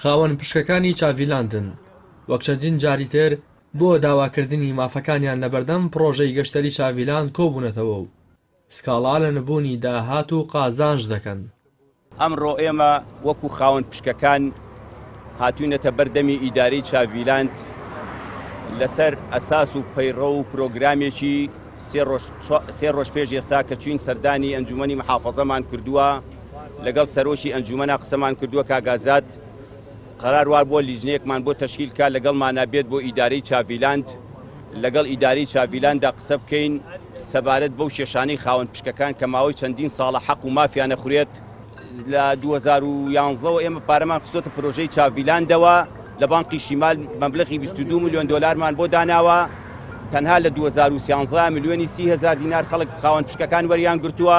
خاوەن پشکەکانی چاڤیلاندن وەک چەندین جاری تر بۆ داواکردنی مافەکانیان لەبەردەم پڕۆژەی گەشتەری چاڤیلاند کۆبوونەتەوە و سکاڵا لە نەبوونی داهات و قازانج دەکەن. ئەمڕۆ ئێمە وەکو خاوەن پشکەکان هاتووینەتە بەر دەمی ئیدارەی چاڤیلاند لەسەر ئەساس و پەیڕەو و پرۆگرامێکی سێ ڕۆژ سێ ڕۆژ پێش ئێستا کە چووین سەردانی ئەنجوومەنی محافەزەمان کردووە، لەگەڵ سەرۆکی ئەنجومەنا قسەمان کردووە کاک ئازاد قەرار وابووە لیژنەیەکمان بۆ تەشکیل کا لەگەڵ مانابێت بۆ ئیدارەی چاڤیلاند لەگەڵ ئیدارەی چاڤیلاندا قسە بکەین سەبارەت بەو کێشانەی خاوەن پشکەکان کە ماوەی چەندین ساڵە حەق و مافیانە خورێت لە 2011ەوە ئێمە پارەمان خستۆتە پرۆژەی چاڤیلاندەوە لە بانقی شیمال مەبلغی 22 میلیۆن دلارمان بۆ داناوە تەنها لە 2013 میلیۆنی 300 دینار خەڵک خاوەن پشکەکان وەریان گرتووە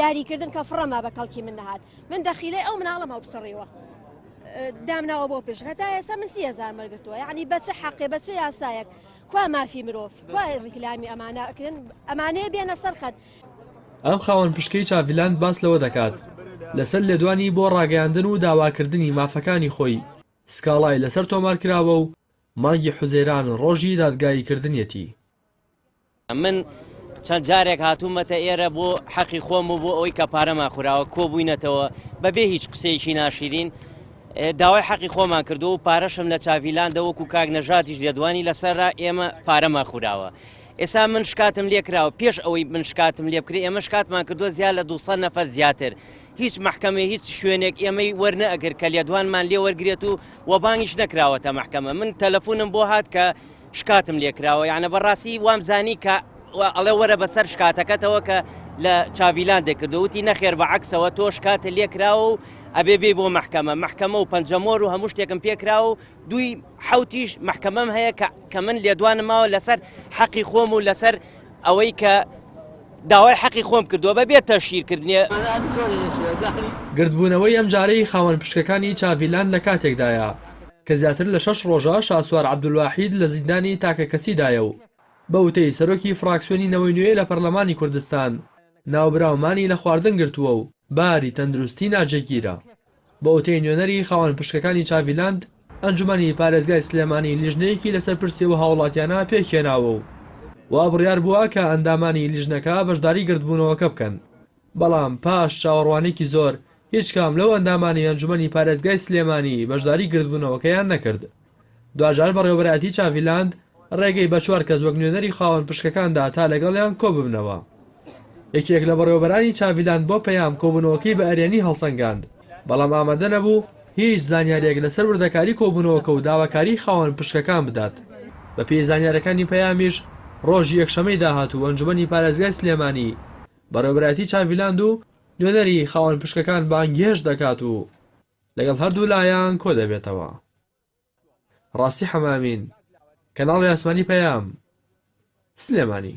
یاری کردن کە فڕەما بە کەڵکی من نەهات من دەخیلەی ئەو مناڵم هەڵبسەڕیوە دامناوە بۆ پێش هەتا ئێستا من سی هزار مەرگتووە یعنی بەچە حەقێ بەچە یاسایەک کوا مافی مرۆڤ کوا ڕیکلامی ئەمانە ئەکرێن ئەمانەیە بێنە سەرخەت ئەم خاوەن پشکەی چاڤیلاند باس لەوە دەکات لەسەر لێدوانی بۆ ڕاگەیاندن و داواکردنی مافەکانی خۆی سکاڵای لەسەر تۆمارکراوە و مانگی حوزەیران ڕۆژی دادگاییکردنیەتی. من چەند جارێک هاتوومەتە ئێرە بۆ حەقی خۆم و بۆ ئەوەی کە پارەمان خوراوە کۆبووینەتەوە بەبێ هیچ قسەیەکی ناشیرین داوای حەقی خۆمان کردو و پارەشم لە چاڤیلاندە وەکو کاک نەژاتیش لێدوانی لەسەررا ئێمە پارەمە خوراوە. ئێستا من شکاتم لێکراوە پێش ئەوەی من شکاتم لێ بکرێ ئێمە شکاتمان کردووە زیاد لە 200 نەفەر زیاتر هیچ محکمە هیچ شوێنێک ئێمەی وەرنەگرت کە لێدوانمان لێ وەرگێت و وەبانگیش نەکراوەتە محکمە من تەلەفۆنم بۆ هات کە شکاتم لێ کراوە یانە بەڕاستی وام زانی کە ئەڵێ وەرە بەسەر شکاتەکەتەوە کە لە چاڤیلان دەکردو وتی نەخێر بە عکسەوە تۆ شکاتە لێ کراوە و ئەبێ بێ بۆ محکەمە محکەمە و پەنجەمۆر و هەموو شتێکم پێکراوە و دوی حوتیش محکەمەم هەیە کە کە من لێدوانم ماوە لەسەر حەقی خۆم و لەسەر ئەوەی کە داوای حەقی خۆم کردووە بە بێتە شیرکردنیە. گردبوونەوەی ئەمجارەی خاوەن پشکەکانی چاڤیلان لە کاتێکدایە، کە زیاتر لە شەش ڕۆژە شاسوار عەبدولواحید لە زیندانی تاکەکەسیدایە و بە وتەی سەرۆکی فراکسیۆنی نەوەی نوێ لە پەرلەمانی کوردستان، ناوبراومانی لە خواردن گرتووە و باری تەندروستی ناجێگیرە. بە وتەی نوێنەری خاوەن پشکەکانی چاڤیلاند، ئەنجومەنی پارێزگای سلێمانی لیژنەیەکی لەسەر پرسی ئەو هاوڵاتیانە پێکهێناوە و وا بڕیار بووە کە ئەندامانی لیژنەکە بەشداری گردبوونەوەکە بکەن. بەڵام پاش چاوەڕوانیکی زۆر هیچ کام لەو ئەندامانی ئەنجومەنی پارێزگای سلێمانی بەشداری گردبوونەوەکەیان نەکرد دواجار بەڕێوەبەرایەتی چاڤی لاند ڕێگەی بە چوار کەس وەک نوێنەری خاوەن پشکەکان دا تا لەگەڵیان کۆببنەوە یەکێک لە بەڕێوەبەرانی چاڤی لاند بۆ پەیام کۆبوونەوەکەی بە ئەرێنی هەڵسەنگاند بەڵام ئامادە نەبوو هیچ زانیاریەک لەسەر وردەکاری کۆبوونەوەکە و داواکاری خاوەن پشکەکان بدات بەپێی زانیارەکانی پەیامیش ڕۆژی یەکشەمەی داهاتوو ئەنجومەنی پارێزگای سلێمانی بەڕێوەبەرایەتی چاڤیلاند و نوێنەری خاوەن پشکەکان بانگهێشت دەکات و لەگەڵ هەردوو لایان کۆدەبێتەوە. ڕاستی حەمامین، کەناڵی ئاسمانی پەیام، سلێمانی.